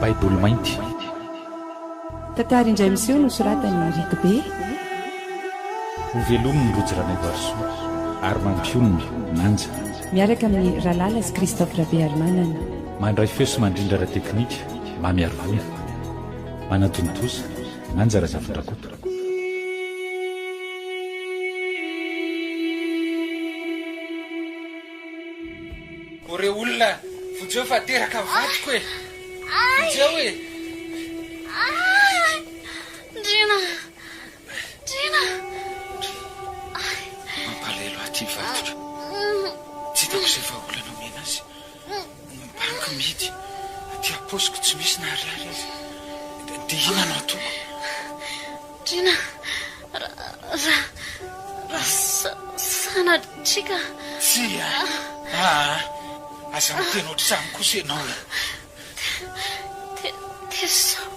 Baiboly mainty. Tantara indray miseho nosoratan'i Rick Bey. Ho velomin'ny Rojo Ranaivoarisoa ary mampionona, Manja. Miaraka amin'ny Ralala sy Christophe Rabearimanana. Mandray feo sy mandrindra ara-teknika. Mamy ary gola, manatontosa, manja Razafindrakoto. O re olona, vonjeo fa teraka ny vadiko e! Vonjeo e! Ndriana! Ndriana! Mampalahelo ahy ity vadiko. Tsy hitako izay vahaolana omena azy. Ombaniko mihidy aty ampaosiko tsy misy na ariary aza. Dia inona no ataoko? Drina, raha, raha sanatria ka. Tsia, aa, aza miteny ohatr'izany kosa ianao e. Dia sao,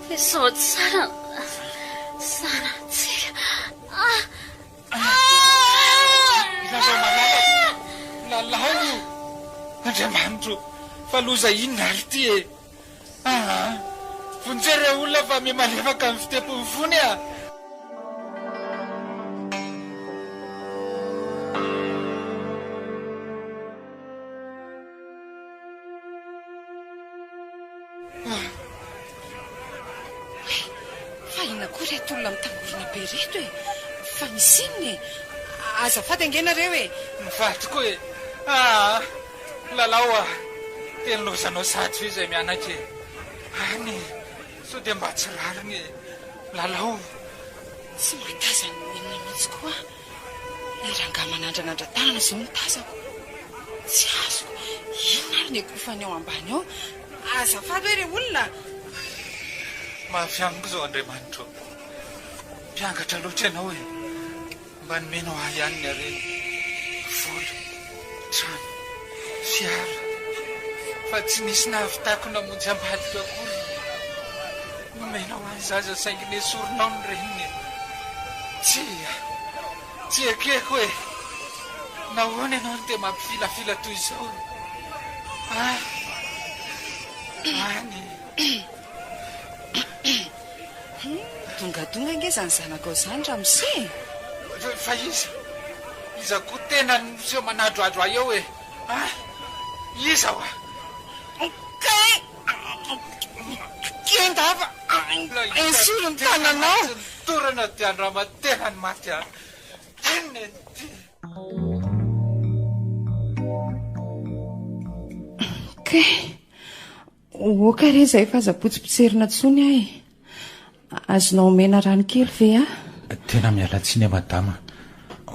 dia sao tsara ny sanatsia. Ianareo manaraka lalao io. Andriamanitro o! Fa loza inona ary ity e! Aa! Vonjeo ireo olona fa miha malefaka amin'ny fitempon'ny fony aa! Fa inona koa ireto olona mitangorona be ireto e? Fa misy inona e? Azafady ange nareo e! Mivady koa e! Aa! Lalao a! Dia lozanao sady ve izay mianaka e? Any e! Sao dia mba tsy rariny e! Lalao! Tsy mahatazana ny olona mihitsy koa aho. Ilay rangahy manandranandra tanana izao no tazako. Tsy azoko. Inona ary no ekofany ao ambany ao? Azafady hoe re olona a! Mafy amiko izao Andriamanitra ô! Mpiangatra loatra ianao e! Mba nomenao ahy ihany ny harena, vola, Trano, fiara, fa tsy nisy nahavitako namonjy ambadika akory. Nomena ho an'ny zaza saingy nesorina ao ny reniny e! Tsia, tsy ekeko e! Nahoana ianao no dia mampifilafila toy izao? Any, any e! Humm, dongadonga ange izany zanakao izany ramose e! Fa iza? Iza koa tena no miseho manadrohadro ahy eo e? Ah! Iza hoa? Kay! Kenda fa esory ny tananao! Tsy ny dorana dia andrama-tena ny maty an! Inona eny ity? Kay! Oka re zay fa aza potsipotserina tsony ah e! Azonao omena rano kely ve ah? Tena miala tsiny a madama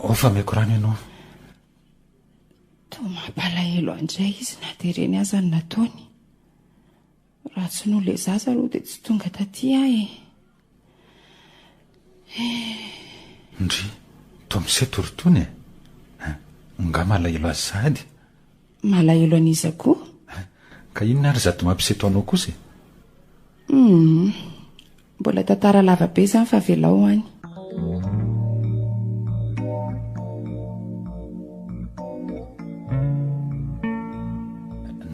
oh fa meko rano ianao. Toa mampalahelo an dray izy na dia ireny aza no nataony. Raha tsy noho ilay zaza aloha dia tsy tonga taty ah e! Ndry, toa miseto ry Tony e! Ngah malahelo azy sahady? Malahelo an'iza koa? Ka inona ary zady mampiseto anao kosa e? Humm, mbola tantara lava be izany fa avelao any.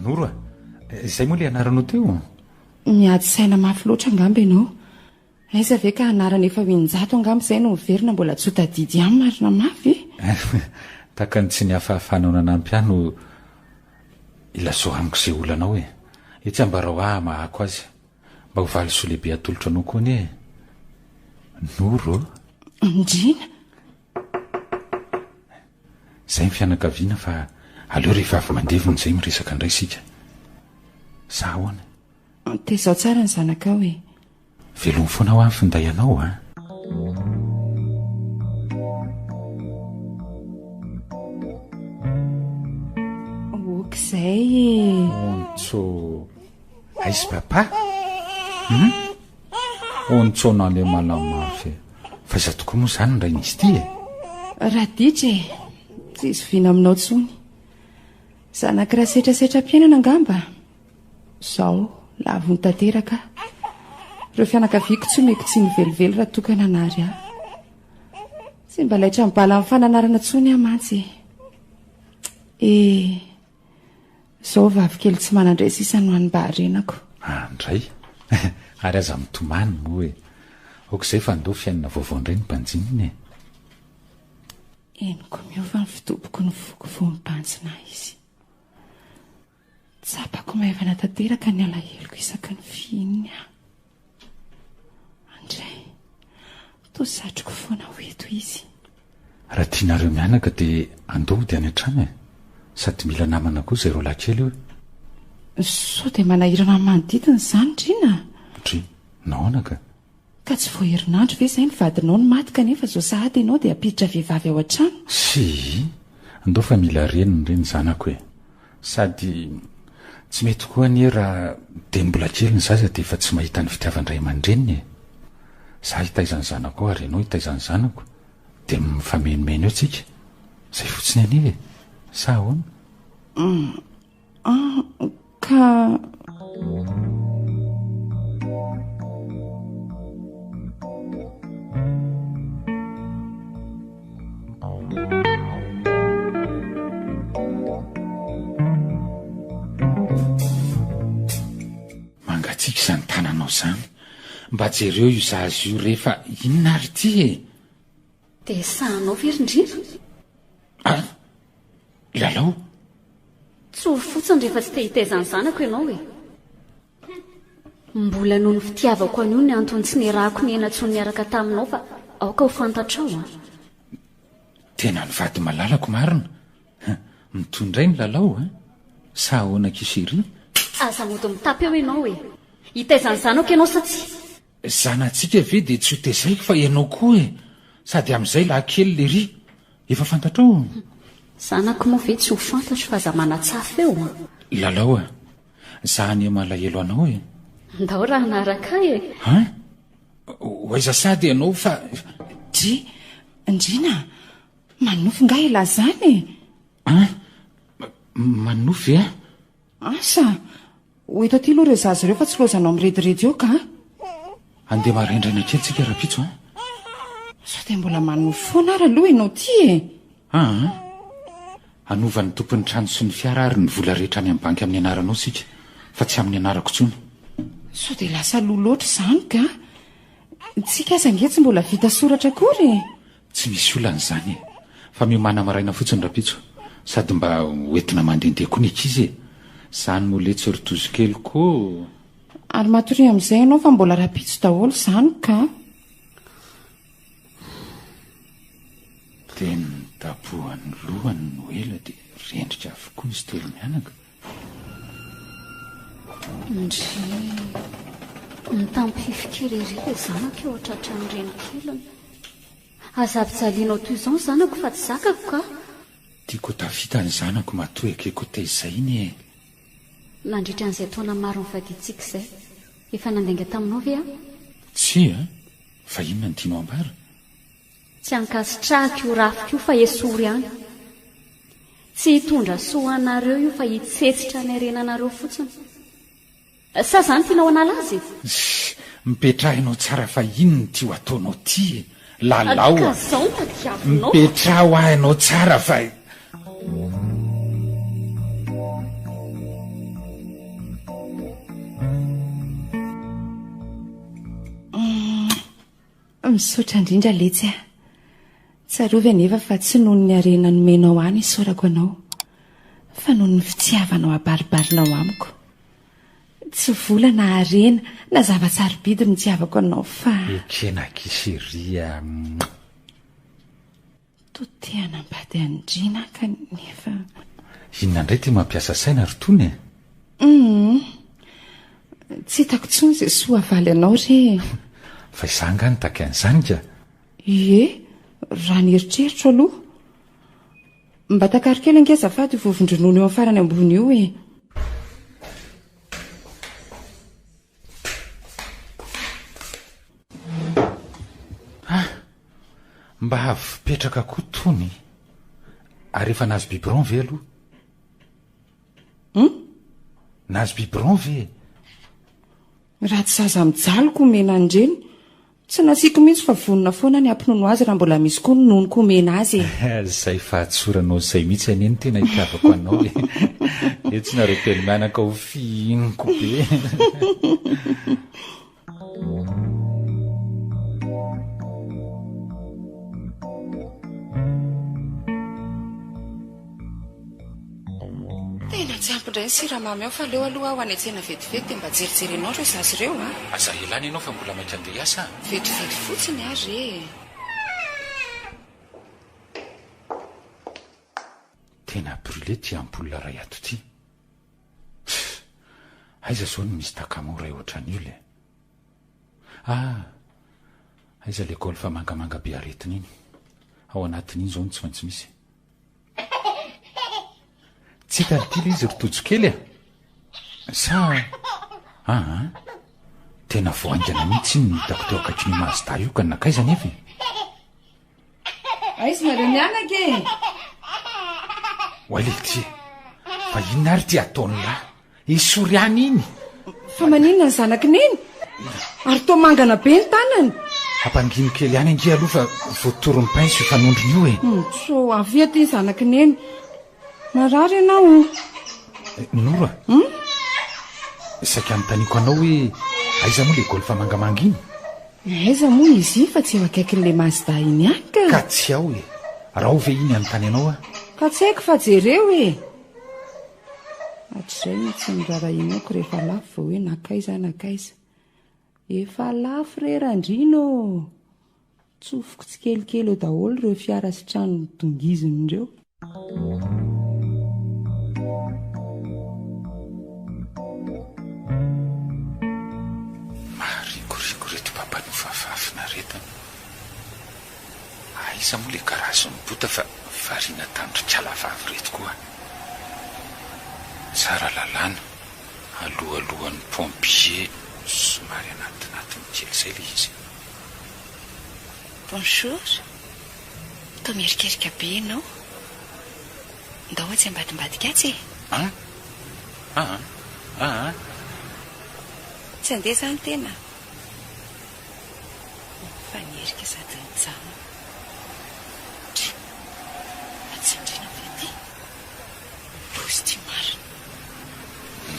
Noro a! Izay moa ilay anaranao teo? Miady saina mafy loatra angamba ianao. Aiza ve ka anarana efa ho in-jato angamba izay no miverina mbola tsy ho tadidy ihany marina mafy e! Tahaka ny tsy nihafahafanao nanampy ahy no ilazoraniko izay olanao e! Etsy ambarao ahy hamahako azy. Mba ho valisoa lehibe atolotro anao koa anie e! Noro o! Andriana! Zay ny fianakaviana fa aleo rehefa avy mandevina izay miresaka indray isika. Sa ahoana? Antehizao tsara ny zanakao e! Veloma foana hoa ny finday anao a! Ok izay e! Ontso! Aiz papa? Hum? Ontso an'Alemalà mafy e! Fa iza tokoa moa izany ny rain'izy ity e? Raditra e! Tsy zoviana aminao intsony. Zanak'i Rasetrasetram-piainana angamba? Izao, lavony tanteraka aho. Ireo fianakaviako tsy omeko tsiny velively raha toa ka nanary ahy. Tsy mba laitra ny bala amin'ny fananarana intsony aho mantsy e! Eh! Zao vavy kely tsy manandray sisa no any mba arenako. Ah ndray ary aza mitomany moa e. Ok zay fa ndao fiainana vaovao ndray ny mpanjinina e. Henoko miova ny fidoboko ny foko vao mibanjina izy. Tsapako maivana tanteraka ny alaheloko isaky ny fihininy aho. Andray, toa satriko foana ho eto izy. Raha tianareo mianaka dia andeha hody any an-trano e! Sady mila namana koa izay roalahy kely io e! Sao dia manahirana ny manodidina izany, Dryna a! Dry, nahoana ka? Ka tsy vao herinandro ve izay ny vadinao no maty kanefa izao sahady ianao dia hampiditra vehivavy ao an-trano? Sii! Ndao fa mila reny ny zanako e! Sady tsy mety koa anie raha dieny mbola kely ny zaza dia efa tsy mahita ny fitiavan-dray aman-dreniny e! Za hitaiza ny zanako ao ary ianao hitaiza ny zanako dia mifamenomeno eo tsika, zay fotsiny anie e! Sa ahoana? Ka. Mangatsiaka izany tananao izany. Mba jereo io zaza io re fa inona ary ity e? Dia sahanao ve ry Ndrindra? Ah! Lalao? Tsory fotsiny rehefa tsy te hitaiza ny zanako ianao e! Mbola noho ny fitiavako an'io ny antony tsy niarahako nianatso niaraka taminao fa aoka ho fantatrao an! Tena ny vady malalako marina! Hum! Mitohy indray ny lalao an! Sa ahoana ki chérie? Aza mody mitapy eo ianao e! Hitaiza ny zanako ianao sa tsia? Zanatsika ve dia tsy ho tezaiko fa ianao koa e! Sady amin'izay lahikely lery! Efa fantatrao? Zanako moa ve tsy ho fantatro fa aza manatsafy eo an! Lalao an! Za anie malahelo anao e. Ndao raha hanaraka ahy e. Hein? Ho aiza sady ianao fa. Dry, ndriana a! Manofy nga i Lazana e! Hein? Manofy a? Asa! Ho eto aty aloha ireo zaza ireo fa tsy loazanao mirediredy eo ka a! Andeha maraindraina kely tsika rapitso a! Sao dia mbola manofy foana ary aloha ianao ty e! Aa! Hanova ny tompon'ny trano sy ny fiara ary ny vola rehetra any amin'ny banky amin'ny anaranao isika fa tsy amin'ny anarako intsony. Sao dia lasa loha loatra izany ka! Ny tsika aza ange tsy mbola vita soratra akory e! Tsy misy olana izany e! Fa miomàna maraina fotsiny rapitso sady mba ho entina mandehandeha koa ny ankizy e! Izany moa letsy ry tozokeliko o! Ary matoria amin'izay ianao fa mbola rapitso daholo izany ka! Teny nitapohan'ny lohany no ela dia rendrika avokoa izy telo mianaka. Ndry! Mitampifika ery ery ilay zanako eo tratran'ny renikeliny. Aza avijalianao toy izao ny zanako fa tsy zakako ka! Tiako ho tafita ny zanako matoa ekeko tezainy e! Nandritra an'izay taona maro nifadiantsika izay, efa nandainga taminao ve aho? Tsia! Fa inona no tianao ambara? Tsy ankasitrahako io rafiko io fa esory ihany. Tsy hitondra soa ho anareo io fa hitsetsitra ny harenanareo fotsiny. Sa izany tianao hanala azy e? Shh! Mipetrahinao tsara fa inona ity ho ataonao ity e? Lalao a! Ka izao no tadiavinao? Mipetraho ahy ianao tsara fa. Misaotra indrindra letsy a! Tsarovy anefa fa tsy noho ny harena nomenao ahy no isaorako anao fa noho ny fitiavanao habaribarinao amiko. Tsy vola na harena na zava-tsarobidy no itiavako anao fa. Ekena Kisy ry a. To te hanambady andriana kanefa. Inona indray ity mampiasa saina ry Tony e? Humm. Tsy hitako intsony izay soa havaly anao re e. Fa izaho angaha nitaky an'izany ka. Ie, raha ny eritreritro aloha. Mba takaro kely ange azafady io vovon-dronono eo amin'ny farany ambony io e. Ah! Mba avy petraka koa tony. Ary efa nahazo biberon ve aloha? Hmm? Nahazo biberon ve? Raha tsy zaza mijaly ko omena an'ireny Tsy nasiako mihitsy fa vonona foana ny hampinono azy raha mbola misy koa ny nonoko omena azy e! Izay fahatsoranao izay mihitsy anie no tena itiavako anao e! Eo tsy nareo telo mianaka ho fihiniko be! Tena tsy ampy indray ny siramamy ao fa aleo aloha aho hanetsena vetivety dia mba jerijerenao ireo zaza ireo an! Aza hilany ianao fa mbola mainka handeha hiasa an! Vetivety fotsiny ary e! Tena brûlé ity ampoule iray ato ity. Pff! Aiza izao ny Miss Takamo iray ohatran'io le. Ah! Aiza ilay golf mangamanga be aretina iny. Ao anatin'iny izao no tsy maintsy misy e. Tsy hitany ty le izy ry Tojo kely a! Sa aa! Tena vao haingana mihitsy iny no hitako teo akaikin'io Mazda io ka nankaiza nefa e! Aiza nareo mianaka e! Oay le ty e! Fa inona ary ty ataon'lah? I Soriana iny. Fa maninona ny zanaky neny? Ary toa mangana be ny tanany. Hampangino kely ihany ange aloha fa voatoron'ny pince io fanondrony io e. Mitso, avia aty ny zanaky neny. Marary ianao o. Eh, Noro a. Hmm? Saika anontaniako anao hoe aiza moa le golf mangamanga iny? Aiza moa izy iny fa tsy eo akaikin'ilay Mazda iny ihany ka. Ka tsy ao e. Raho ve iny anontany anao aho? Ka tsy haiko fa jereo e. Hatrizay no tsy norarahianako rehefa lafo vao hoe nankaiza nankaiza. Efa lafo re Randriana ô! Tsofiko tsikelikely eo daholo ireo fiara sy trano dongiziny ireo. Maharikoriko ireto mpampanova fahafinaretana. Aiza moa le garage ny bota fa variana tandrikala vavy reto koa tsara lalàna alohalohan'ny pompier somary anatinatiny kely zay le izy. Bonjour, toa mierikerika be ianao. Ndao atsy ambadimbadika atsy e. An? An? An? Tsy handeha zany tena. Mifanerika sady mijanona. Tjo. Mba tsindriana ve ity. Mivozo ity marina.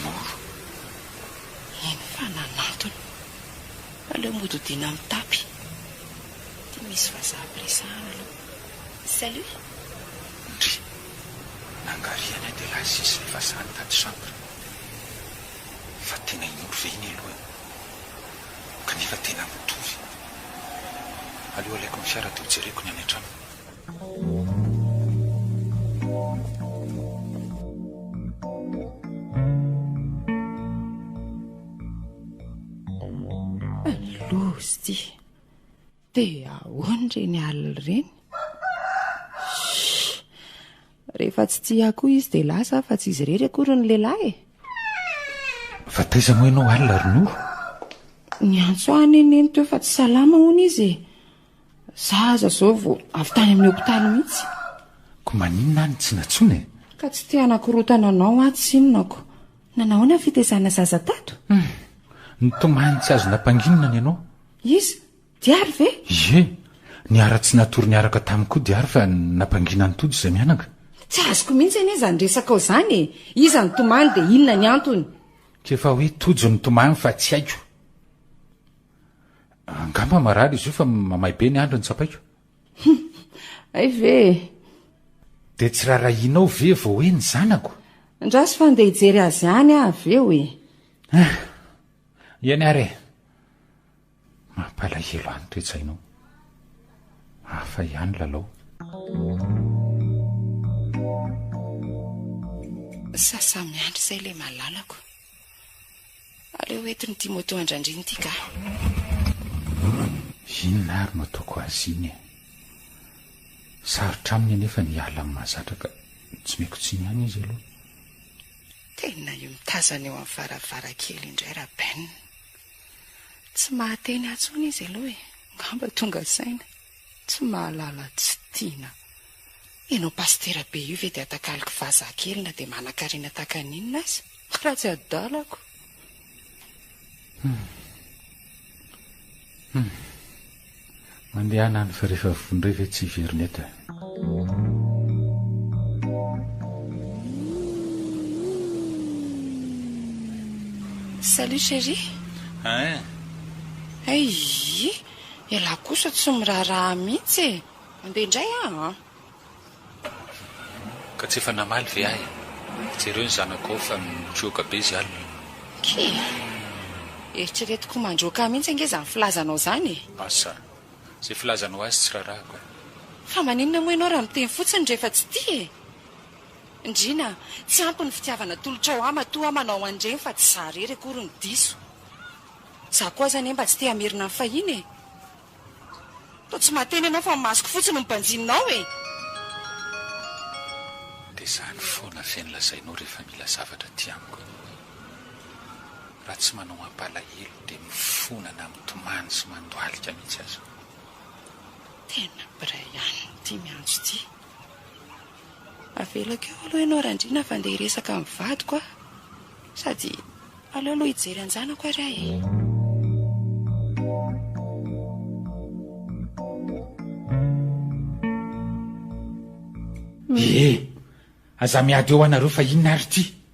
Moro. Eny fa nanantona. Aleo mody hodiana amin'ny tapis. Ity misy vazaha ampiresahana aloha. Salut. Ndry. Nangarihana dia lazis ilay vazaha nitady chambre. Fa tena indro ve iny alohany. kanefa tena mitovy. Aleo alaiko ny fiara dia ho jereko ny any an-trano. Loza ity. Dia ahoana ireny alina ireny? Shhh! Rehefa tsy tia ahy koa izy dia lasa aho fa tsy izy irery akory ny lehilahy e! Fa taiza moa ianao alina ry Noro? Niantso ahy anie Neny teo fa tsy salama hono izy e! Za aza izao vao avy tany amin'ny hopitaly mihitsy. Koa maninona aho no tsy nantsoina e? Ka tsy te hanakorontana anao aho tsinona ko! Nanao ahoana ny fitaizana zaza tato? Hum! Nitomany tsy azo nampanginina ny anao. Iza? Diary ve? Ie, niharatsy natory niaraka taminy koa Diary fa nampangina an'i Tojo izay mianaka. Tsy azoko mihitsy anie izany resakao izany e! Iza nitomany dia inona ny antony? K'efa hoe Tojo nitomany fa tsy haiko. Angamba marary izy io fa mamay be ny andro no tsapaiko. Hay ve e! Dia tsy raharahianao ve vao hoe ny zanako? Andraso fa handeha hijery azy any aho avy eo e! Ah! Eny ary e! Mampalahelo any toe-tsainao. Hafa ihany lalao. Sasa miandry izay ilay malalako. Aleo ho entin'i Timotheo andrandriana ity kah. Inona ary no ataoko azy iny e? Sarotra aminy anefa ny hiala amin'ny mahazatra ka tsy meko tsiny ihany izy aloha. Tena io mitazana eo amin'ny varavarakely indray Raben. Tsy mahateny ahy intsony izy aloha e. Ngamba tonga saina. Tsy mahalala tsy tiana. Ianao pasitera be io ve dia atakaloko vazaha kely na dia manankarena tahaka ny inona aza? Ratsy adalako. Humm. Humm. Mandehana any fa rehefa voa indray ve tsy hiverina eto e. Salut chérie. Hein. Aii. Ialahy kosa tsy miraharaha mihitsy e. Mandeha indray aho an. Ka tsy efa namaly ve ahy? Jereo ny zanakao fa mijoka be izy alina. Kii! Eritreretiko ho mandroaka ahy mihitsy ange izany filazanao izany e! Asa! Izay filazanao azy tsy rarahako e! Fa maninona moa ianao raha miteny fotsiny rehefa tsy tia e! Ndriana a! Tsy ampy ny fitiavana atolotrao ahy matoa aho manao an'ireny fa tsy izaho irery akory no diso. Izaho koa aza anie mba tsy te-hamerina ny fahiny e! Toa tsy mahateny ianao fa ny masoko fotsiny no banjininao e! Dia izany foana ve no lazainao rehefa mila zavatra aty amiko e? Raha tsy manao mampalahelo dia mifona na mitomany sy mandohalika mihitsy aza. Tena Brian ity miantso ity. Avelako eo aloha ianao Randriana fa ndeha hiresaka amin'ny vadiko aho. Sady aleo aloha hijery an-janako ary aho e! Ee, aza miady eo anareo fa inona ary ity?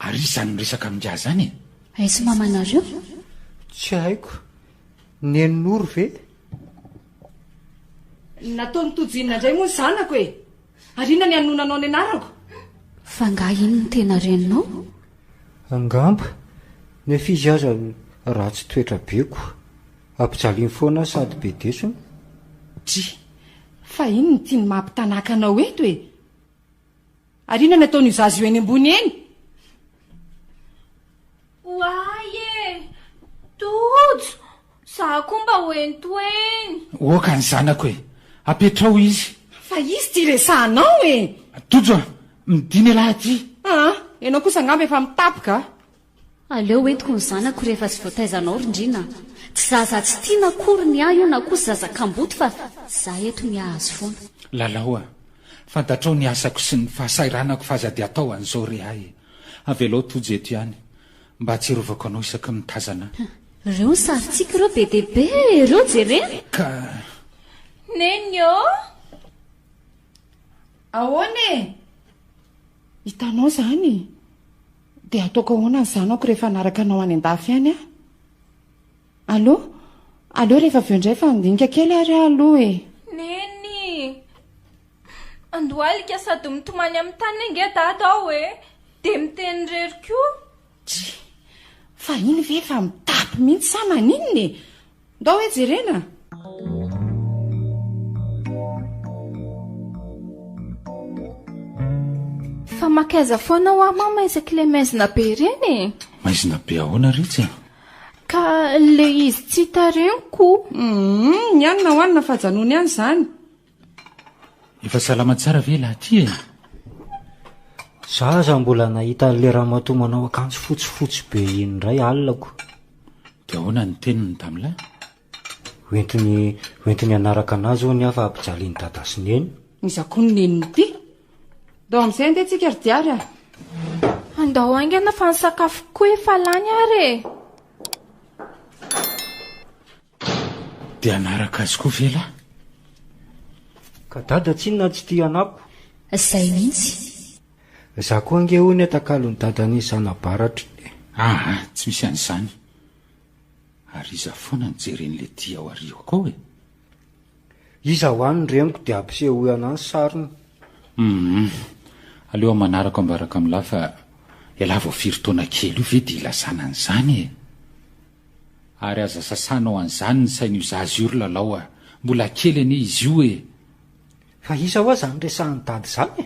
Ary iza no miresaka amin'ingahy zany e? Aiza mamanareo? Tsy haiko. Nenonoro ve? Nataon'i Tojo inona indray moa ny zanako e? Ary inona ny hanonanao ny anarako? Fa angaha iny no tena reninao? Angamba. Nefa izy aza ratsy toetra be ko. Ampijaliany foana sady be desona. Dry, fa iny no tiany maha mpitanàka anao eto e! Ary inona no ataon'io zaza io eny ambony eny? Oay e! Tojo! Za koa mba ho eny to eny! Oka ny zanako e! Apetraho izy! Fa izy ty resahanao e! Tojo a! Midina ialahy aty! Aa! Ianao kosa angamba efa mitapoka a! Aleo ho entiko ny zanako rehefa tsy voataiza anao ry ndry na. Tsy zaza tsy tiana akory ny ahy io na koa tsy zaza kamboty fa za eto ny hahazo foana. Lalao a! Fantatrao ny asako sy ny fahasahiranako f'aza dia atao an'izao re hay e! Avelao Tojo eto ihany mba hatsiarovako anao isaky ny mitazana ahy. Ireo ny sarintsika ireo be dia be e! Ireo jerena! Ka. Neny ô! Ahoana e! Hitanao izany? Dia ataoko ahoana ny zanako rehefa hanaraka anao any an-dafy any aho? Allo? Aleo rehefa avy eo indray fa handinika kely ary aho aloha e! Neny! Andohalika sady mitomany amin'ny tany ange dada ao e! Dia miteny irery koa! Try! Fa iny ve efa mitapy mihitsy sa maninona e? Ndao hoe jerena a! Fa makaiza foana hoa mama isaky ilay maizina be ireny e! Maizina be ahoana ritsy a? Ka ilay izy tsy hitarihiko. Humm, ny anona hoanina fajanony ihany izany. Efa salama tsara ve lahy ty e? Za aza mbola nahita an'le ramatoa manao akanjo fotsifotsy be iny indray alina ko. De ahoana ny teniny damilahy? Hoentiny hoentiny hanaraka anazy hono aho fa ampijalin'i dada sy neny. Iza koa ny neniny ity? Ndao amin'izay andeha tsika ry diary a! Andao haingana fa ny sakafoko koa efa lany ary e! Dia hanaraka azy koa ve lahy? Ka dada tsinona tsy tia anako. Zay mihitsy. Za koa ange hono etakalon'i dadan'i zanabaratro e. Aa tsy misy an'izany. Ary iza foana no jeren'le ty ao ariako ao e? Iza hoa ny reniko dia ampisehoy anah ny sariny. Hum aleo amanarako ambaraka amin'lah fa elah vao firy taona kely io ve dia ilazana an'izany e? Ary aza sasanao an'izany ny sain'io zaza io ry Lalao a! Mbola kely anie izy io e! Fa iza hoa izany resahan'i Dada izany e?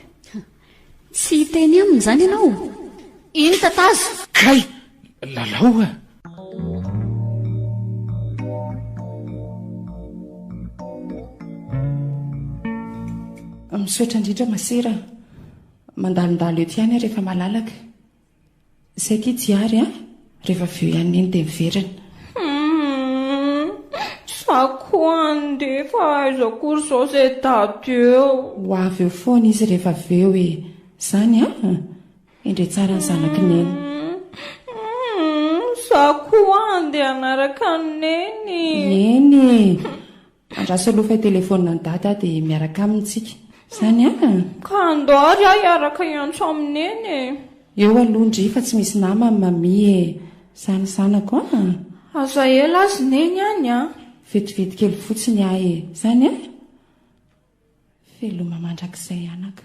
Tsy hiteny aminy izany ianao? Iny tatazo! Kay! Lalao a! Misaotra indrindra masera a! Mandalondalo eto ihany aho rehefa malalaka. Zay ty tsy ary an! Rehefa avy eo ihany ny enta heverina. Humm! Za koa andeha fa aiza akory zao zay daty eo. Ho avy eo foana izy rehefa avy eo e! Zany an! Hendre tsara ny zanaky neny. Humm! Za koa andeha hanaraka an'i neny. Eny e! Raha solofa telefonina an'i Dada dia miaraka aminy tsika. Zany an! Ka andao ary aho hiaraka hiantso amin'i Neny e! Eo aloha ndry fa tsy misy namany Mamie e! Zany zanako an! Aza ela azy Neny any an! Vetivety kely fotsiny aho e! Zany an! Veloma mandrakizay anaka.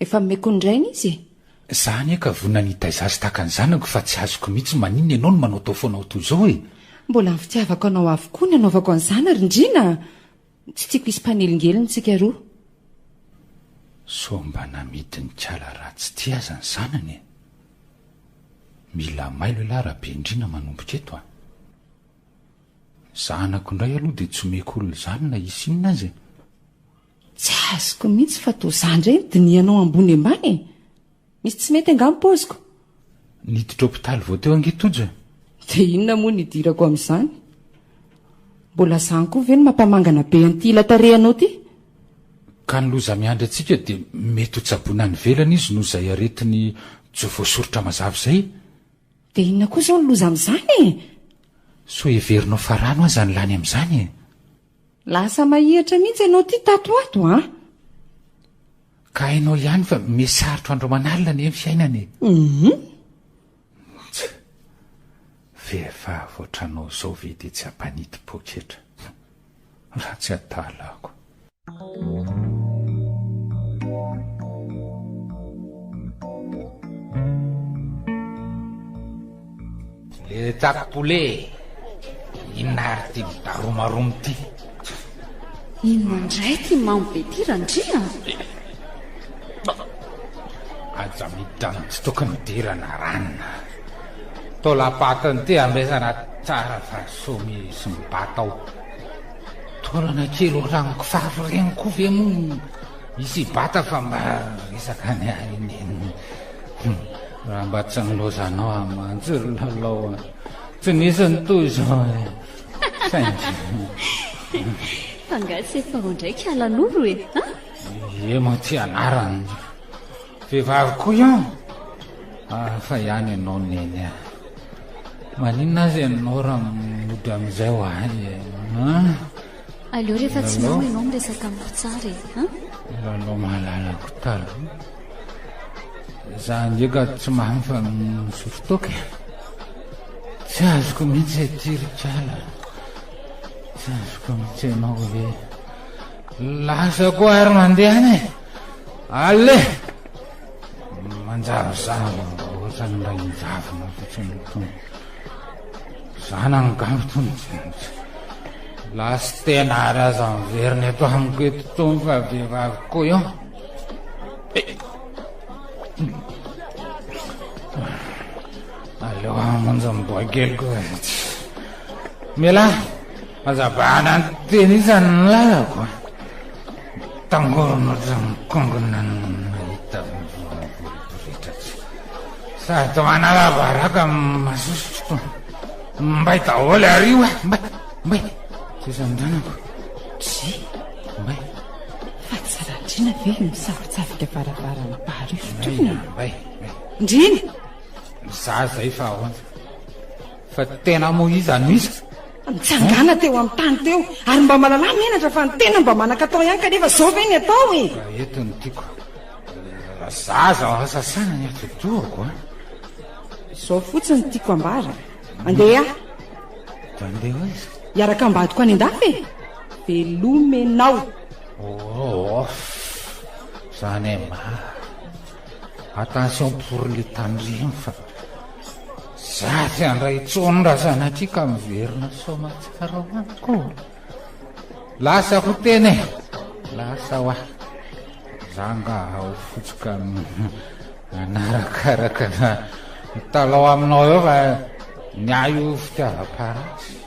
Efa meko ndraina izy e! Za anie ka vonona ny hitaiza azy tahaka ny zanako fa tsy azoko mihitsy maninona ianao no manaotao foana ao toy izao e! Mbola ny fitiavako anao avokoa ny anaovako an'izany ary ndryna a! Tsy tiako hisy mpanelingelina antsika roa. Sao mba namidin-kala raha tsy tia aza ny zanany e! Mila mailo elah Rabendriana manomboka eto a! Ny zanako indray aloha dia tsy omeko olona izany na hisy inona aza e! Tsy azoko mihitsy fa toa za ndray ny dinihanao ambony ambany e! Misy tsy mety angaha ny paoziko? Niditra hopitaly vao teo ange Tojo e! Dia inona moa ny hidirako amin'izany? Mbola zany koa ve no mampamangana be an'ity ila tarehanao ity? Ka ny loza miandry antsika dia mety ho tsaboina any ivelany izy noho izay aretiny tsy voasoritra mazava izay e! Dia inona koa izao ny loza amin'izany e! Sao heverinao fa rano aza ny lany amin'izany e! Lasa mahihatra mihitsy ianao ity tato ato an! Ka hainao ihany fa mety sarotra andro aman'alina anie ny fiainana e! Hum! Tch! Vehivavy ohatranao izao ve dia tsy hampanity poketra? Raha tsy adalako! Le tsako poulet e! Inona ary ity midaromaromy ity? Inona indray ity mamy be ity Randria an! Aza miditra ny tsy tokony hidirana ranona. Taolam-patiny ity amesana tsara fa soa misy mibata ao. Taolana kely ohatran'ny kofafy ireny koa ve moa misy hibata fa mba resaka ny ahy iny. Raha mba tsy nilozanao amin'ny manjiry lalao an. Tsy nisy ny toy izao e. Thank you. Fa nga tsy efa ao ndraiky alan'olo e. Ie moa ty anarany. Vehivavy koa ian. Ah, fa ihany ianao neny a. Maninona azy ianao raha mody amin'izay ho ahy e. Aleo rehefa tsy mihaona ianao miresaka amiko tsara e an! Lalao malalako taloha. Za ndray ka tsy mahay fa misotro toaka e. Tsy azoko mihitsy aty ry kala. Tsy azoko mihitsy ianao hoe lasa koa ary mandeha any e. Allez! Manjarizary ohatran'ny mba injavona ohatran'ny tony. Zanany ngamba tony jenitra. Lastena ary aza miverina eto amiko eto tony fa vehivavy koa eo. Aleo amonjy ny boakeliko. Mela Hazavana ny teny isany ny lalako a! Mitangorona ohatran'ny kongona ny mahita voaboritra tsy. Sady manalabaraka amin'ny masosotro. Mbay daholo ary io a! Mbay! Mbay! Sisa ny ranako. Tsy. Mbay! Fa tsy Randriana ve no misavitsavika varavarana baharefotra io? Mbay! Mbay! Ndriana! Za zay fa ahoana? Fa tena moa iza no iza? Nitsangàna teo amin'ny tany teo ary mba malalà menatra fa ny tena mba manan-katao ihany kanefa zao ve ny atao e! Ka eto ny tiako a! Zaza ao sasana ny atidohako a! Zao fotsiny ny tiako ambara! Andeha aho! Dia andeha hoaiza? Hiaraka ambadiko any an-dafy e! Velomenao! Off! Zany e! Mah! Attention pour le tandremo fa zary andray tsony ra zanatry ka miverina soamatsara ho any ko lasa ho teny lasa wa zanga ao fotsoka anarakaraka na mitalao aminao eo fa ny ahy io fitiavam-parasy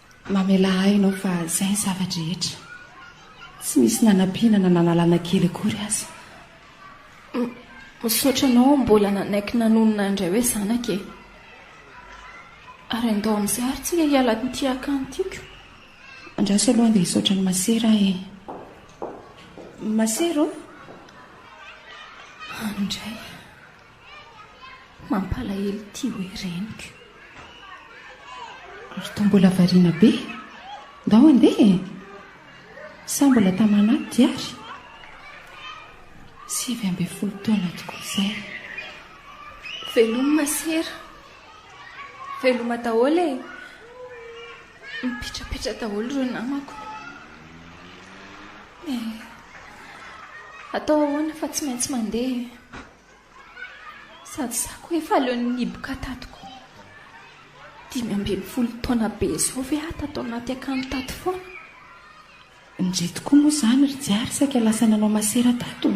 Mamelà ahy Ianao fa izay ny zava-drehetra. Tsy nisy nanampiana na nanalana kely akory aza. M, misaotra Anao mbola nanaiky nanonona indray hoe zanaka e. Ary andao amin'izay ary tsika hiala amin'ity akany tiako. Andraso aloha handeha hisaotra an'i Masera aho e. Masera ô? Any indray. Mampalahelo ity hoe reniko. Ary toa mbola variana be. Ndao andeha e! Sa mbola taman'atody ary? Sivy ambin'ny folo taona tokoa izay. Veloma sera. Veloma daholo e. Mipetrapetra daholo ireo namako. Eh, atao ahoana fa tsy maintsy mandeha e. Sady zako efa leo ny niboka tato ko. Dimy ambin'ny folo taona be izao ve aho tato anaty akanjo tato foana? Ndry tokoa moa izany ry Jary saika lasa nanao masera tato?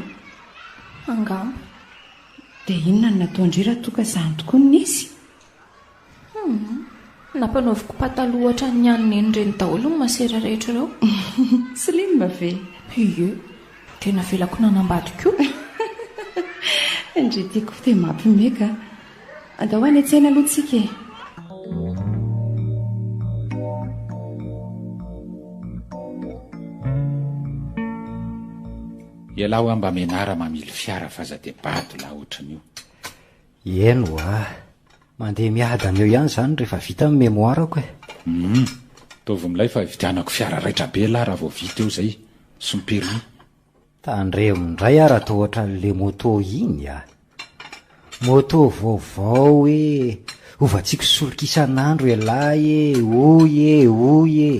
Angamba. Dia inona no nataon-dry raha toa ka izany tokoa no nisy? Hum, nampanaoviko pataloha ohatran'ny ny an'i Neny ireny daholo ny masera rehetra ireo. Slim ve? Ie, dia navelako nanambady koa. Ndry tiako dia mampime ka. Andao any an-tsena aloha tsika e. Ialahy hoa mba menara mamily fiara f'aza dia bado lahy ohatran'io. Eny ho'a. Mandeha miadana eo ihany izany rehefa vita ny memoirako e. Humm. Ataovy milay fa hividianako fiara raitra be lah raha vao vita eo izay sy ny permis. Tandremo indray ah raha toa ohatran'ilay moto iny ah. Moto vaovao e, hovantsiko solika isan'andro elah e, hoy e, hoy e.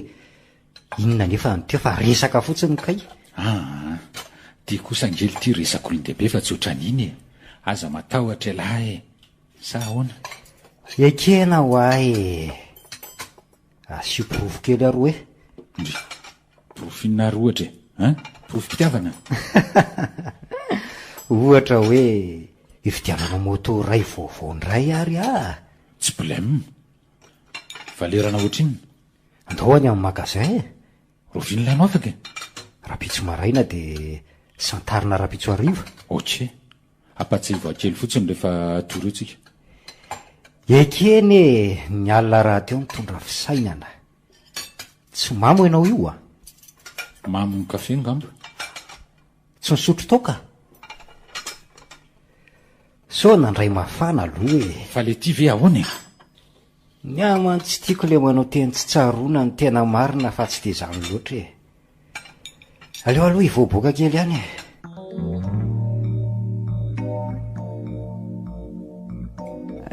Inona anefa ny teo fa resaka fotsiny kay. Aa! Ty kosa ange lty resaka olon-dehibe fa tsy otran'iny e! Aza matahotra elah e! Sa ahoana? Ekena hoa e! Asio porofo kely aroa e! Ndry! Porofo inona ary ohatra e? An? Porofom-pitiavana? Ohatra hoe hividianana moto iray vaovao indray ary ah! Tsy blem! Valerana ohatrinona? Andao any amin'ny magasin e! Oviana ilay notako e? Rahampitso maraina dia santarina rahampitso hariva. Ok. Ampatsiahivaho kely fotsiny rehefa tory eo tsika. Ekeny e! Ny alina rahateo nitondra fisainana. Tsy mamo ianao io a! Mamo ny kafe angamba. Tsy nisotro tao ka! Sao nandray mafana aloha e! Fa ilay ity ve ahoana e? Ny ahy man tsy tiako ilay manao teny tsy tsaroana ny tena marina fa tsy dia izany loatra e. Aleo aloha hivoaboaka kely ihany e.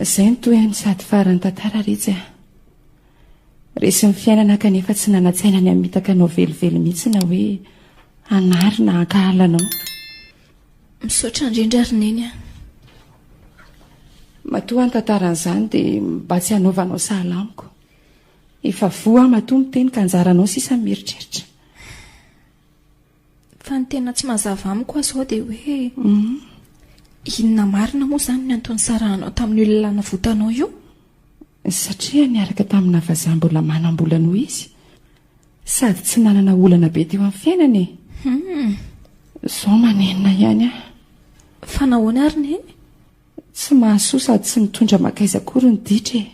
Izay no toy an'i sady faran'ny tantara retsy a. Resin'ny fiainana kanefa tsy nanan-tsaina ny hamitaka anao velively mihitsy na hoe hanary na hankahala anao. Misaotra indrindra ry Neny a. Matoa ny tantaran'izany dia mba tsy hanaovanao sahala amiko. Efa voa aho matoa miteny ka anjaranao sisa ny mieritreritra. Fa ny tena tsy mazava amiko aho izao dia hoe mhm. inona marina moa izany ny antony sarahanao tamin'ny olona navotanao io? Satria niaraka tamina vazaha mbola manam-bola noho izy Sady tsy nanana olana be teo amin'ny fiainana e. Hum. Zao manenina ihany aho. Fa nahoana ary neny? Tsy mahasoa sady tsy mitondra makaiza akory ny ditra e.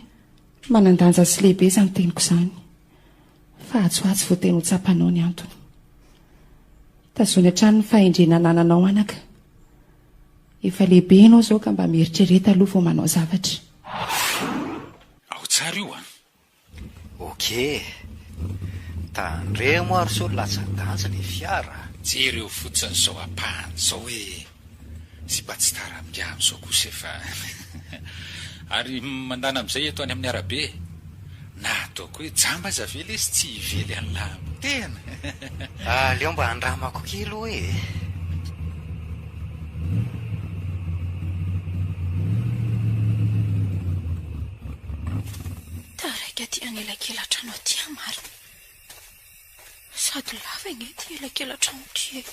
Manan-danja sy lehibe izany teniko izany. Fa atsy ho atsy vao tena ho tsapanao ny antony. Tazony hatrany ny fahendrena anananao anaka. Efa lehibe ianao izao ka mba mieritrereta aloha vao manao zavatra. Ao tsara io an! Ok. Tandremo ary sao latsa-danja le fiara. Jereo fotsiny zao apahany zao hoe sipa tsy tara minga amzao kosa efa Ary mandana amzay eto any aminy arabe Na ataoko hoe jamba aza ve lesy tsy hively any la am tena. Aleo mba andramako kely oa e. Taraiky aty any elakelan-trano aty aho marina. Sady lava ange ity elakelan-trano ity e.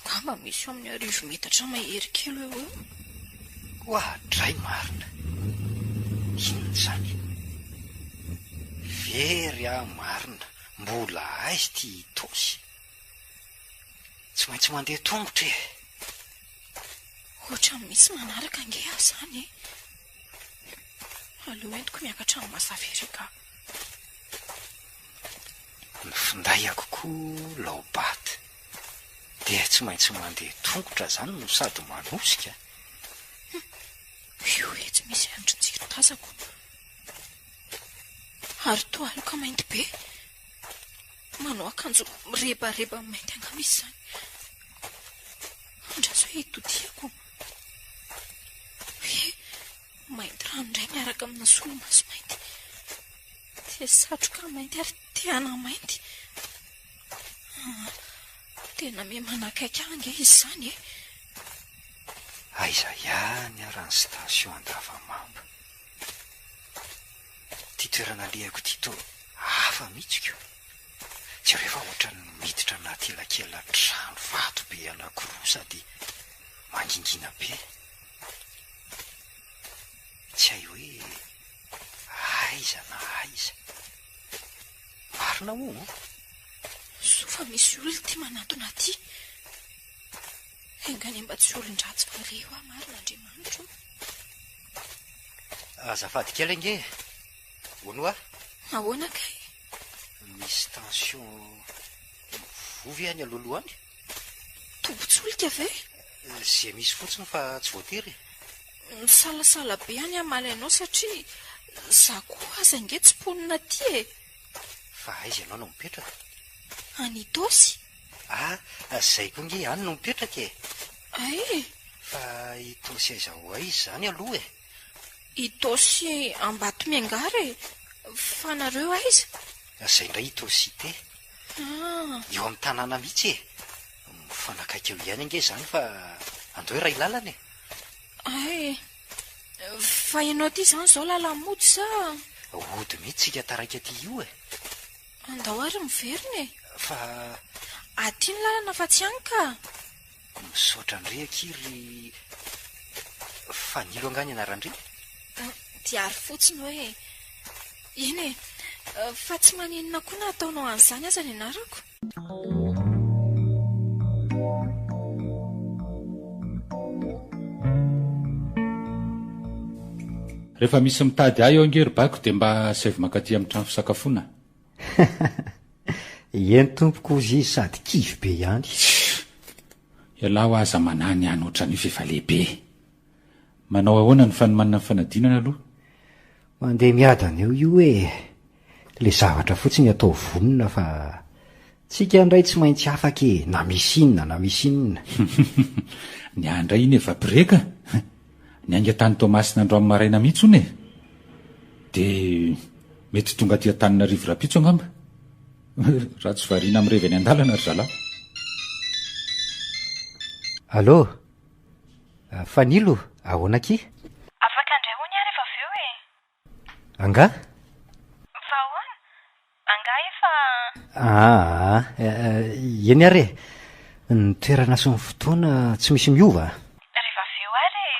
Angamba misy eo amin'ny arivo metatra mahery kely eo eo. Hoa dray marina. Inona izany? Very aho marina, mbola aiza ity Itaosy? Tsy maintsy mandeha tongotra e. Ohatran'ny misy manaraka ange aho izany e. Aleo entiko miakatra amin'ny mazava ery ka. Ny findahiko koa laobat dia tsy maintsy mandeha tongotra izany no sady manosika. Io etsy misy andrin-jiro tazako. Ary toa aloka mainty be. Manao akanjo mirebareba mainty angamba izy izany. Andraso hoe itodihako. Hoe mainty rano indray miaraka amina solomaso mainty. Dia satroka mainty ary tehana mainty. Ah, tena me manakaiky ahy ange izy izany e. Aiza ihany ary ny station Andavamamba? Ty toerana alehako ty to hafa mihitsy ko. Jereo fa ohatran'ny miditra anaty elakelan-trano vato be anankiroa sady mangingina be. Tsy hay hoe aiza na aiza. Marina hono o? Soa fa misy olona ty manantona aty. Enga anie mba tsy olon-dratsy fahare hoa marina Andriamanitra o. Azafady kely ange e. Hono wa? Ahoana kay? Misy tension voa ve any alohaloha any? Tobin-tsolika ve? Izay misy fotsiny fa tsy voatery e. Misalasala be any hamaly anao satria za koa aza ange tsy mponina aty e. Fa aiza ianao no mipetraka? Any Itaosy. Ah, izay koa nge ihany no mipetraka e! Ay! Fa i Tosy aiza ho aiza izany aloha e? I Tosy Ambatomiangara e! Fa nareo aiza? Izay indray i Tosy Te. Ah! Eo amin'ny tanàna mihitsy e! Mifanakaiky eo ihany ange izany fa andao iray lalana e! Ay! Fa ianao ity izany izao lalan'ny mody sa? Hody mihitsy isika taraiky aty io e! Andao ary miverina e! Fa. Aty ny lalana fa tsy any ka! Misaotra an-dry akia ry. Fanilo angaha ny anaran-dry? Dia ary fotsiny hoe. Eny e! Fa tsy maninona koa na ataonao an'izany aza ny anarako? Rehefa misy mitady ahy ao ange ry baiko dia mba asaivo mankaty amin'ny trano fisakafoana a! Eny tompoko hozy izy sady kivy be ihany. Tsia! Ialahy hoa aza manahy ny hany ohatran'io fa efa lehibe e! Manao ahoana ny fanomanana ny fanadinana aloha? Mandeha miadana eo io e! Le zavatra fotsiny atao vonona fa tsika ndray tsy maintsy afaka e na misy inona na misy inona. Ny ahy ndray iny efa break a! Niainga tany Toamasina androany maraina mihitsy hono e! De mety tonga aty Antananarivo rapitso angamba! Raha tsy variana mirevy any andalana ry zalahy. Allô! Fanilo, ahoana akia? Afaka indray hono aho rehefa avy eo e! Angaha? Fa ahoana? Angaha efa. Aah, eny ary e! Ny toerana sy ny fotoana tsy misy miova a! Rehefa avy eo ary e!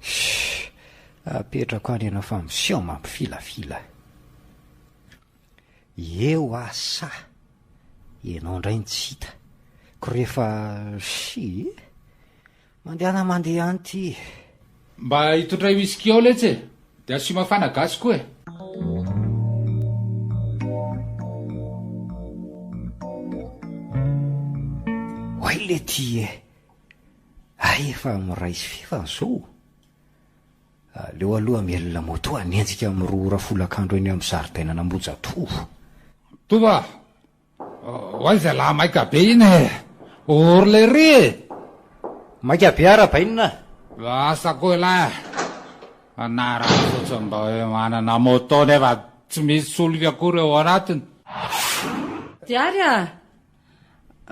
Shh! Apetrako any ianao fa miseho mampifilafila. Eo aho sa ianao indray no tsy hita? Ko rehefa shh! Mandehana mandeha any ty. Mba itotray whisky ao letsy e! De asio mafana gasy koa e! Oay le ty e! Hay efa miray sy fefany zao o! Aleo aloha mielina moto hanenjika amin'ny roa ora folakandro eny amin'ny zaridainan'Ambohijatovo. Toa! Oay zalahy maika be iny e! Ory lery e! Maika be ara bainina a! Lasa koa ilay anarany fotsiny mba hoe manana moto nefa tsy misy solika akory ao anatiny. Diary a!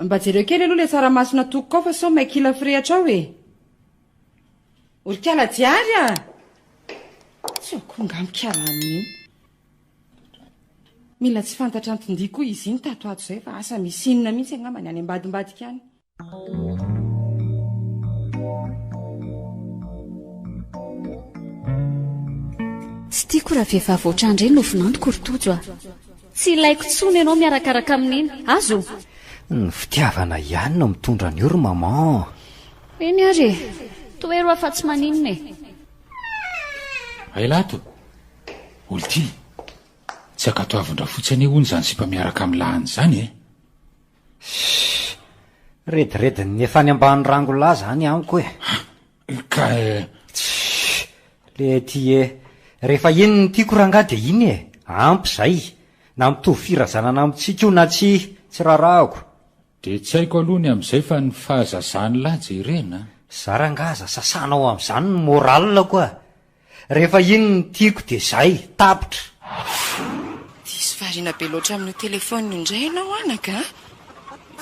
Mba jereo kely aloha ilay tsaramaso natokoko ao fa sao may kila firehitra ao e! Ory kala Diary a! Tsy akory nga mikala aminy iny. Mila tsy fantatra anton-dia koa izy iny tato ato izay fa asa misy inona mihitsy angamba ny any ambadimbadika any. Tsy tiako raha vehivavy ohatrandry iny no vinantoko ry Tojo a! Tsy ilaiko tsony ianao miarakaraka amin'iny, aza o! Ny fitiavana ihany no mitondra an'io ry maman a! Eny ary e! Tohero aho fa tsy maninona e! Hay lahy tompoko! Olty, tsy ankatoavin-drafotsy anie hono izany sipa miaraka amin'ny lahany izany e! Shh! Rediredin'ny efa any ambany rango lahy izany amiko e! Ah! Ka eh! Shh! Lety e! Rehefa iny ny tiako rangahy dia iny e! Ampy izay! Na mitovy firazanana amintsika io na tsia, tsy rarahako. Dia tsy haiko aloha ny amin'izay fa ny fahazazan'lah jerena an! Za rangah aza sasanao amin'izany ny morale-ko ah! Rehefa iny ny tiako dia zay, tapitra! Diso variana be loatra amin'io téléphone io indray ianao anaka a!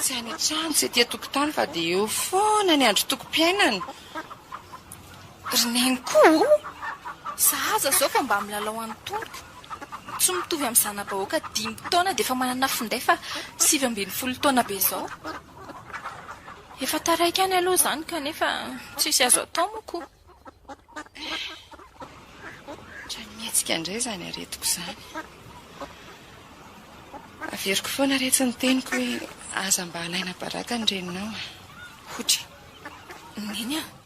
Tsy any an-trano, tsy aty an-tokotany fa dia eo foana ny androm-tokom-piainana! Ry neniko o! Sahaza izao vao mba milalao any Tompo. Tsy mitovy amin'ny zana-bahoaka dimy taona dia efa manana finday fa sivy ambin'ny folo taona be izao. Efa taraiky any aloha izany kanefa tsisy azo atao moa ko. Eehh. Efa mihetsika indray izany aretiko izany. Averiko foana re tsy ny teniko hoe aza mba alaina baraka ny reninao a. Hotra. Neny a!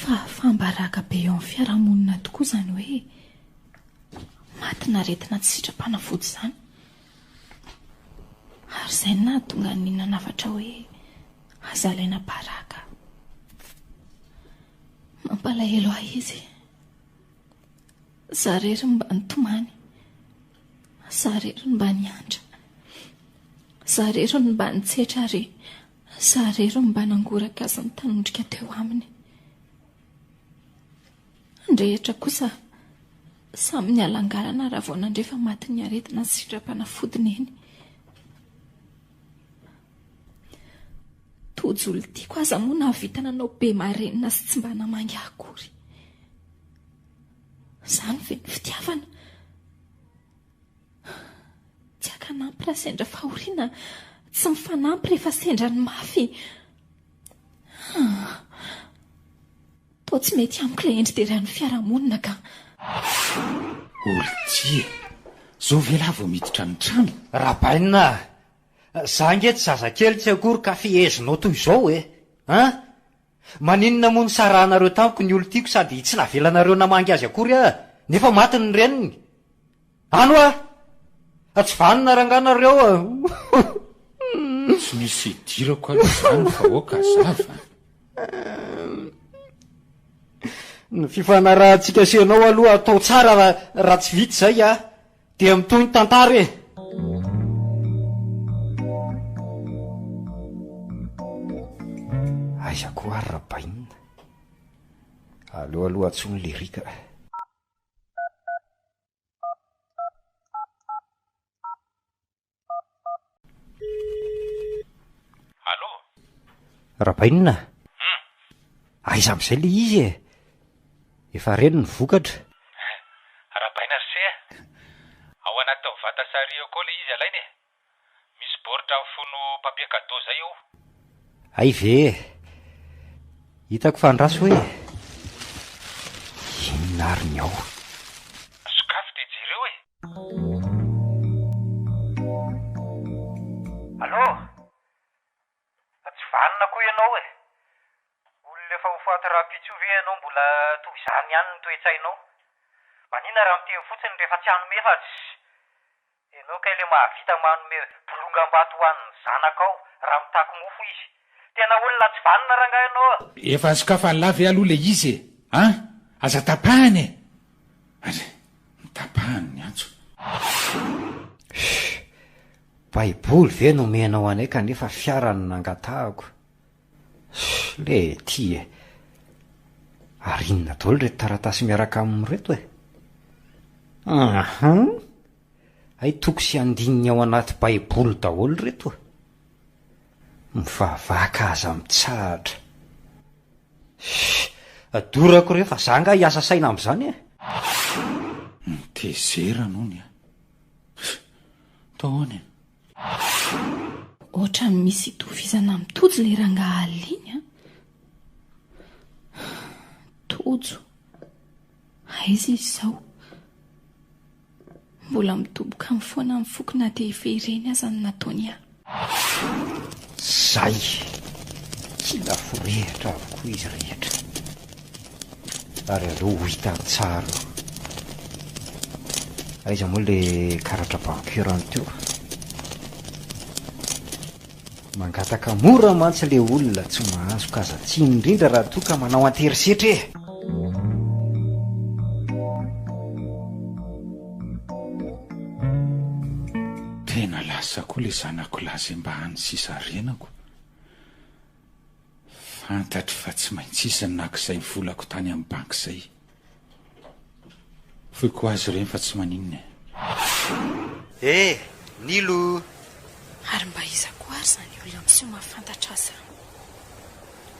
Fahafaham-baraka be eo amin'ny fiarahamonina tokoa izany hoe matin'aretina tsy sitrapanavody izany. Ary izay no nahatonga ny nanafatra hoe aza alaina baraka. Mampalahelo ahy izy. Za rery no mba nitomany. Za rery no mba niandry. Za rery no mba nitsetra ary Za re ro mba nangoraka azy nitanondrika teo aminy. Andrehetra kosa samy nialangalana raha vao nandre fa matin'ny aretina ny sindram-panafody neny. Tojo olon-tiako aza moa nahavita nanao be marenina sy tsy mba namangy ahy akory. Zany ve ny fitiavana? Tsy akanampy raha sendra fahoriana, tsy mifanampy rehefa sendra ny mafy. Toa tsy mety amiko ilay endri-deran'ny fiarahamonina ka. Olon-tsia, zao ve lahy vao miditra ny trano? Rabaina a! Za ange tsy zazakely tsy akory ka fehezinao toy izao e! An! Maninona moa nisarahanareo tamiko ny olon-tiako sady tsy navelanareo namangy azy akory aho nefa maty ny reniny? Any hoa! Fa tsy vanona rangahy nareo an! Tsy misy idirako aloha izany fa aoka hazava an! Ny fifanarahantsika sy ianao aloha atao tsara raha tsy vita izay aho Dia mitohy ny tantara e! Aiza koa ary Rabainina? Aleo aloha antsoy ny Lyrique a! Allô? Rabainina a! Hum! Aiza amin'izay ilay izy e? Efa reny ny vokatra. Rabaina ry se a! Ao anaty taovata sary eo koa ilay izy alaina e! Misy baoritra mifono papier cadeau izay eo. Hay ve e! Hitako fa andraso hoe inona ary ny ao. Sokafy dia jereo e! Allô! Fa tsy vanona koa ianao e! Olona efa ho faty rahampitso ve ianao mbola toy izany ihany ny toe-tsainao? Manina raha miteny fotsiny rehefa tsy hanome fa tsy. Ianao kay ilay mahavita manome bolongam-bato ho an'ny zanakao raha mitaky mofo izy. Tena olona tsy vanona rangahy ianao a! Efa sokafany la ve aloha le izy e! an! Aza tapahany e! Ary notapahany ny antso. Shhh! Baiboly ve no omenao anay kanefa fiara no nangatahako? Shhh Lety e! Ary inona daholo ireto taratasy miaraka aminy ireto e? Uhum! Hay toko sy andininy ao anaty baiboly daholo ireto. Mivavaka aza mitsahatra. Hii, adorako re, fa za nga hiasa saina amzany e! Mitezerana ony a! Atao ahoana e? Ohatran'ny misy itovizana amin'i Tojo ilay rangahy Aly iny an! Tojo, Aiza izy izao? Mbola midoboka any foana ny foko na dia efa ireny aza no nataony ahy. Zay! Tsy mba forehitra avokoa izy rehetra. Ary aleo ho hitany tsara io. Aiza moa ilay karatra banky urant io? Mangataka mora mantsy le olona tsy mahazo ka aza tsiny indrindra raha toa ka manao anterisetra e! Tena lasa koa le zanako lahy zay mba any sisa renako. Fantatro fa tsy maintsy izy nakizay volako tany am banky zay. Foiko ho azy ireny fa tsy maninona e. He! Nilo! Ary mba iza koa ary izany olona miseho mahafantatra ahy izany?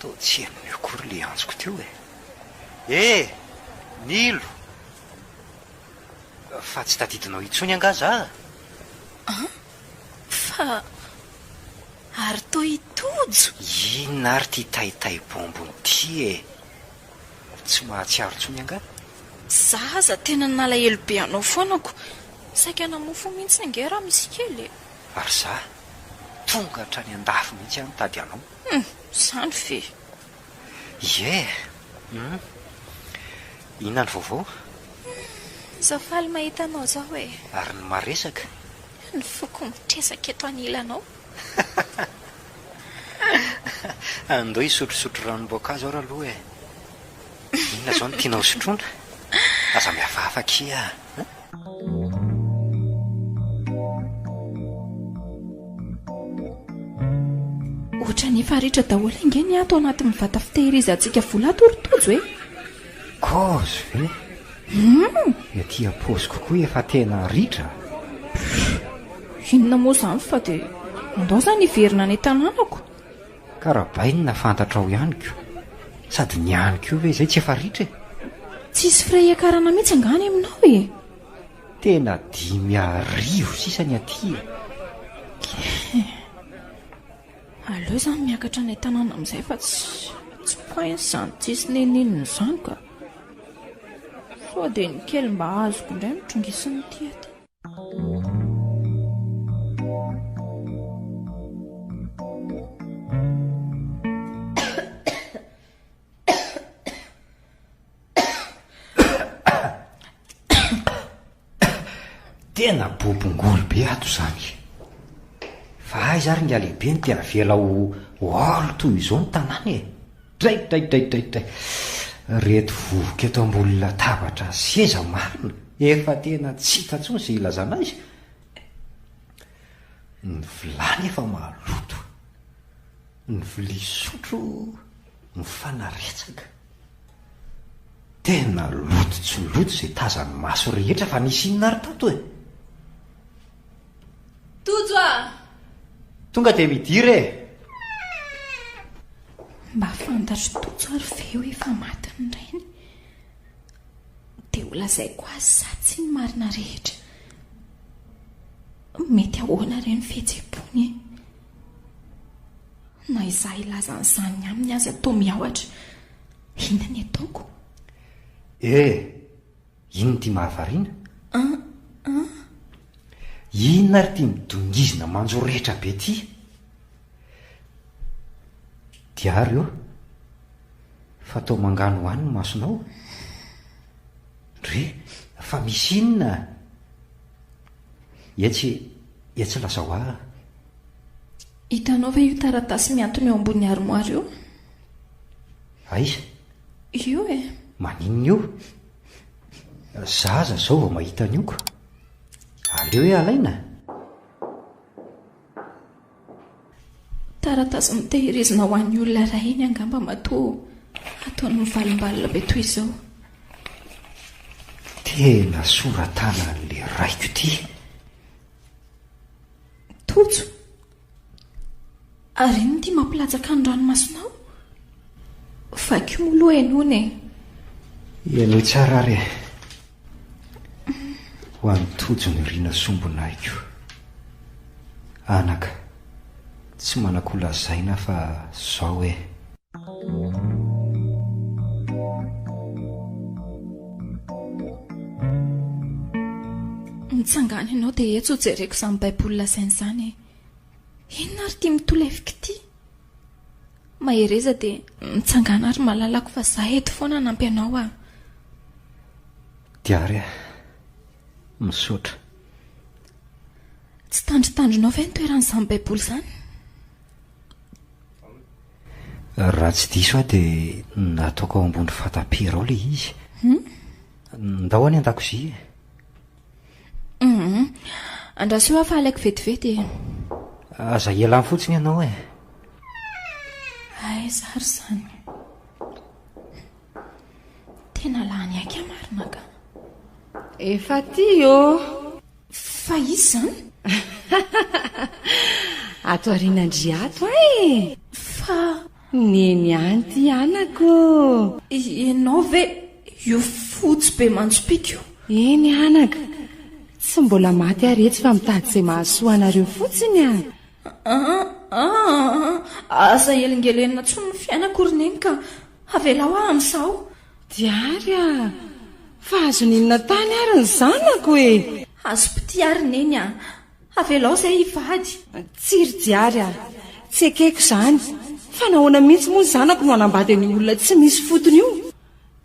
Toa tsy henony akory ilay antsoko teo e. He! Nilo! Fa tsy tadidinao intsony angaha za? An? Fa ary toa i Tojo! Inona ary ity taitaibômbony ity e? tsy mahatsiaro intsony angaha? Za aza tena nalahelo be anao foana ko. Saika namofo mihitsy ange raha misy kely e. Ary za tonga hatrany andafy mihitsy aho nitady anao. Hum, zany ve. Ie, hum. Inona ny vaovao? Hum, za faly mahita anao izao e. Ary ny maresaka? Ny foko mitresaka eto anilanao. Andao hisotrosotro ranom-boankazo aho raloha e! Inona izao no tianao hosotroina? Aza mihafahafa akia a! Ohatran'ny efa ritra daholo ange ny ahy tao anatin'ny vata fitehirizantsika vola ato ry Tojo e! Gauze ve? Hum! Ety am-paosiko koa efa tena ritra. Pff! Inona moa izany fa dia andao izany hiverina any an-tanànako. Karabainina fantatrao ihany ko. Sady ny any koa ve izay tsy efa ritra e? Tsisy frais hiakarana mihitsy angaha any aminao e? Tena dimy arivo sisa ny aty e. Aleo zany miakatra any an-tanàna amin'izay fa tsy point izany tsisy neninenina izany ka. Sao dia ny kely mba azoko indray no trongisin'ity aty. Tena bobongolo be ato izany. Fa aiza ary ny alehibe no tena avela ho or toy izao ny tanàna e. Dray dray dray dray dray. Reto vovoka eto ambony latabatra sy seza marina efa tena tsy hita intsony izay ilazana azy. Ny vilany efa maloto. Ny vilia sotro mifanaretsaka. Tena loto tsy loto izay tazan'ny maso rehetra fa nisy inona ary tato e? Tojo a! Tonga dia midira e! Mba fantatr'i Tojo ary ve hoe efa maty ny rainy? Dia ho lazaiko azy sa tsia ny marina rehetra? Mety ahoana re ny fihetseham-pony e? Na izaho hilaza an'izany aminy aza toa miahotra. Inona ny ataoko? Eh! Inona ity mahavariana? An? An? Inona ary ity midongizina manjo rehitra be ity? Diary ô! Fa toa manganohano ny masonao. Ndry! Fa misy inona? Etsy, etsy lazao ahy. Hitanao ve io taratasy mihantona eo ambony armoire io? Aiza? Io e. Maninona io? Za aza zao vao mahita an'io ka. Aleo hoe alaina? Taratasy mitehirizina ho an'ny olona iray iny angamba matoa ataony mivalimbalina be toy izao. Tena sora-tanan'ilay raiko ity. Tojo, ary inona ity mampilatsaka ny ranomasonao? Vakio moa aloha ianona e! Ianao tsara ary e! Ho an'i Tojo niriana sombinahiko. Anaka, tsy manako lazaina fa zao e! Nitsangana ianao dia etsy hojereko izany Baiboly lazainy izany e. Inona ary ity mitolefika ity? Mahereza dia mitsangana ary malalako fa izaho eto foana hanampy anao ah. Diary ah. Misaotra. Tsy tandrintandrinao ve ny toeran'izany Baiboly izany? Raha tsy diso aho dia nataoko ao ambony fatapera ao ilay izy. Ndao any an-dakozia e. Andraso aho fa halaiko vetivety e. Aza ialany fotsiny ianao e. Aiza ary izany? Tena lany aika marina ka. Efa aty ô! Fa izy izany? Ato aorianandry ato a e! Fa. Neny any ity anako. Ianao ve io fotsy be mandrom-pika io? Eny anako. Tsy mbola maty ary etsy fa mitady izay mahasoa anareo fotsiny a! Aza elingelenina intsony ny fiainako ry Neny ka. Avelao aho amin'izao. Diary a! Fa azony inona tany ary ny zanako e! Azo pitia ary neny a! Avelao izay hivady. Tsiry Diary a! Tsy ekeko izany, fa nahoana mihitsy moa ny zanako no hanambady an'io olona tsy misy fotony io?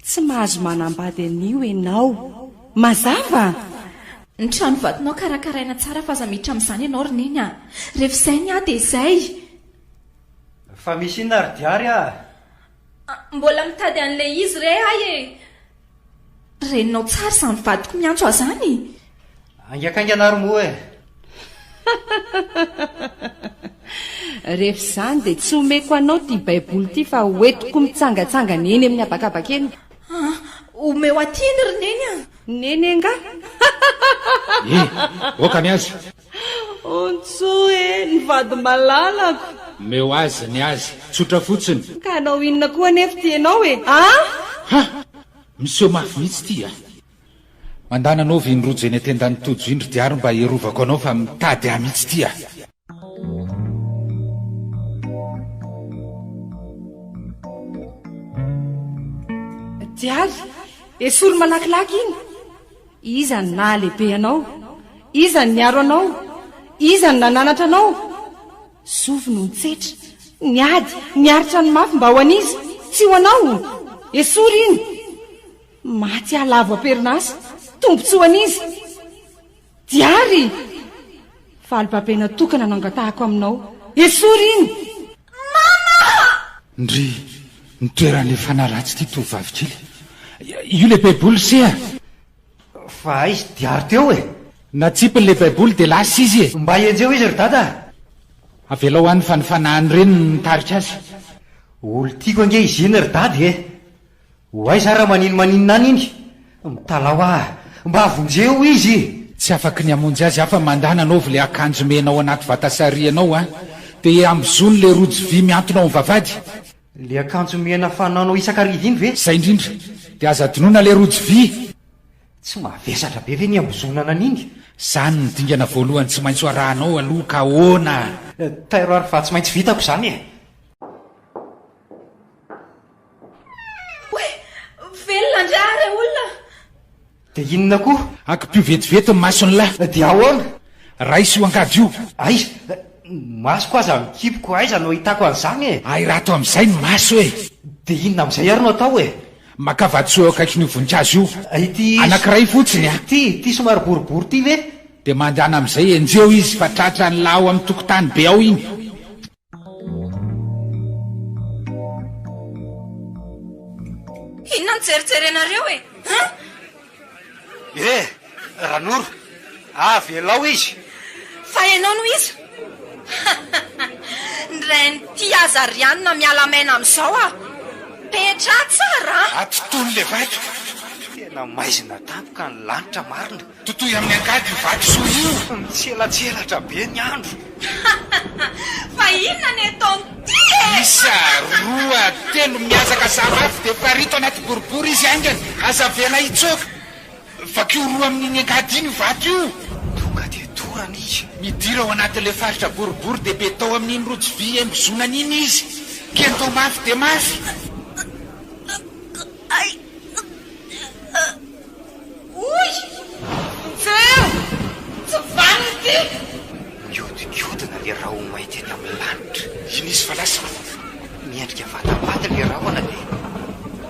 Tsy mahazo manambady an'io ianao. Mazava? Ny trano vadinao karakaraina tsara f'aza miditra amin'izany ianao ry neny a! Rehefa izay ny ahy dia izay! Fa misy inona ry Diary a! Ah, mbola mitady an'ilay izy re ahy e! Reninao tsara izany vadiko miantso ahy izany! Aingaikaingana ary moa e! Rehefa izany dia tsy omeko anao ity Baiboly ity fa hoentiko mitsangatsangana eny amin'ny habakabaka eny. Ah, omeo aty iny ry Neny a! Neny angaha? Eh, aoka ny azy! Ontso e! Ny vady malalako. Omeo azy ny azy. Tsotra fotsiny. Ka hanao inona koa anefa ity ianao e? Ah! Ha! Miseho mafy mihitsy ity a! Mandana anao vy ny rojo eny an-tendan'i Tojo indry diary mba hiarovako anao fa mitady ahy mihitsy ity a! Diary? Esory malakilaky iny! Iza no nahalehibe anao? Iza no niaro anao? Iza no nananatra anao? Zovy no nitsetra, niady, niaritra ny mafy mba ho an'iza? Tsy ho anao! Esory iny! Maty aho lavo am-perinasa, tombontsoa an'iza? Diary! Fa albabena tokana no angatahako aminao. Esory iny! Mama a! Ndry! Ny toeran' le fanaratsy ity tovovavy kely. Io le baiboly se a! Fa aiz diary teo e! Natsipiny le baiboly de lasa izy e! Mba enjeho izy ry dada a! Avelao any fa ny fanahin' reniny no mitarika azy. Olo tiako ange izy iny ry dada e! Ho aiza ary maninmaninona any iny? Mitalaho ah! Mba vonjeo izy e! Tsy afaky ny hamonjy azy afa mandà nanaovy le akanjo mena ao anaty vata sarianao an! De ambozony le rojo vy miantona ao am vavady! Le akanjo mena fanaonao isakariva iny ve? Zay indrindra! De aza adinoina le rojo vy! Tsy mavesatra be ve ny ambozonana an'iny? Zany ny dingana voalohany tsy maintsy ho arahanao aloha ka ahoana? Tairo ary fa tsy maintsy vitako zany e! Oay! Velona andry aho re olona! Dia inona koa? Akipio vetivety ny mason'la. Dia ahoana? Raiso io angady io. Aiza? Ny masoko aza mikipiko, aiza no ahitako an'izany e? Ahirato amin'izay ny maso e! Dia inona amin'izay ary no atao e? Makà vatosoa eo akaikin'io voninkazo io. Ity. Anankiray fotsiny a! Ity, ity somary boribory ity ve? Dia mandehana amin'izay, enjeho izy fa tratran'la ao amin'ny tokontany be ao iny. Inona no jerijerenareo e? Eh! Ranoro, avelao izy. Fa ianao no iza? Ny rain'ity Azariana miala maina amin'izao ah! Petraha tsara an! Ato tony le vato. Tena maizina tampoka ny lanitra marina. Totoy amin'ny angady io vatosoa io! Mitselatselatra be ny andro. Fa inona ny ataon'ity e! Isa, roa, telo, miazaka zava avy dia parito anaty boribory izy haingana, aza avela hitsoaka. Vakio roa amin'iny angady iny io vato io. Tonga dia dorana izy. Midira ao anatin'ilay faritra boribory dia be tao amin'iny rojo vy hembozonany iny izy. Kento mafy dia mafy. Hoy ny feo, Tsy vanona ity! Mihodinkodina ilay rahomay teny amin'ny lanitra. Iny izy fa lasa miendrika vatambaty ilay rahona dia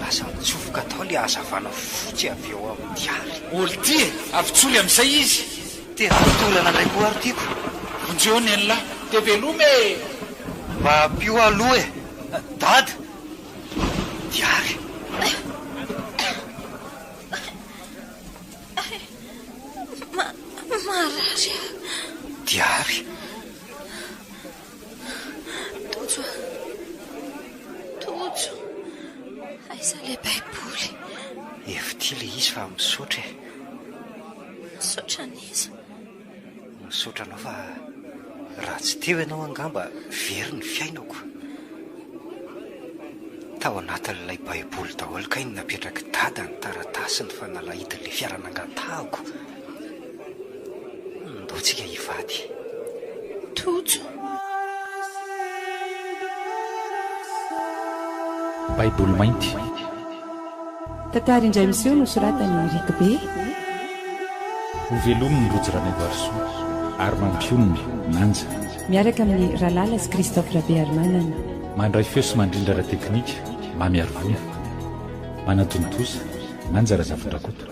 lasa nitsofoka tao ilay hazavana fotsy avy eo amin'ity àry. Olty e! Avy tsoly amin'izay izy. Te hatorana indray koa ary ity ko. Vonjeo nen'lah! Te veloma e! Mba ampio aho aloha e! Dada! Diary! Marary aho. Diary. Tojo. Tojo. Aiza ilay baiboly? Efitia ilay izy fa misaotra e. Misaotra an'iza? Misaotra anao fa raha tsy teo ianao angamba very ny fiainako. Tao anatin'ilay baiboly daholo kay no napetrak'i dada ny taratasiny fa nalahidin'ilay fiara nangatahako. Ndoa tsika hivady. Tojo. Baiboly mainty. Tantara indray miseho nosoratan'i Rick Bey. Ho velomin'ny Rojo Ranaivoarisoa ary mampionona, Manja. Miaraka amin'ny Ralala sy Christophe Rabearimanana. Mandray feo sy mandrindra ara-teknika, Mamy Harivony. Manatontosa, Manja Razafindrakoto.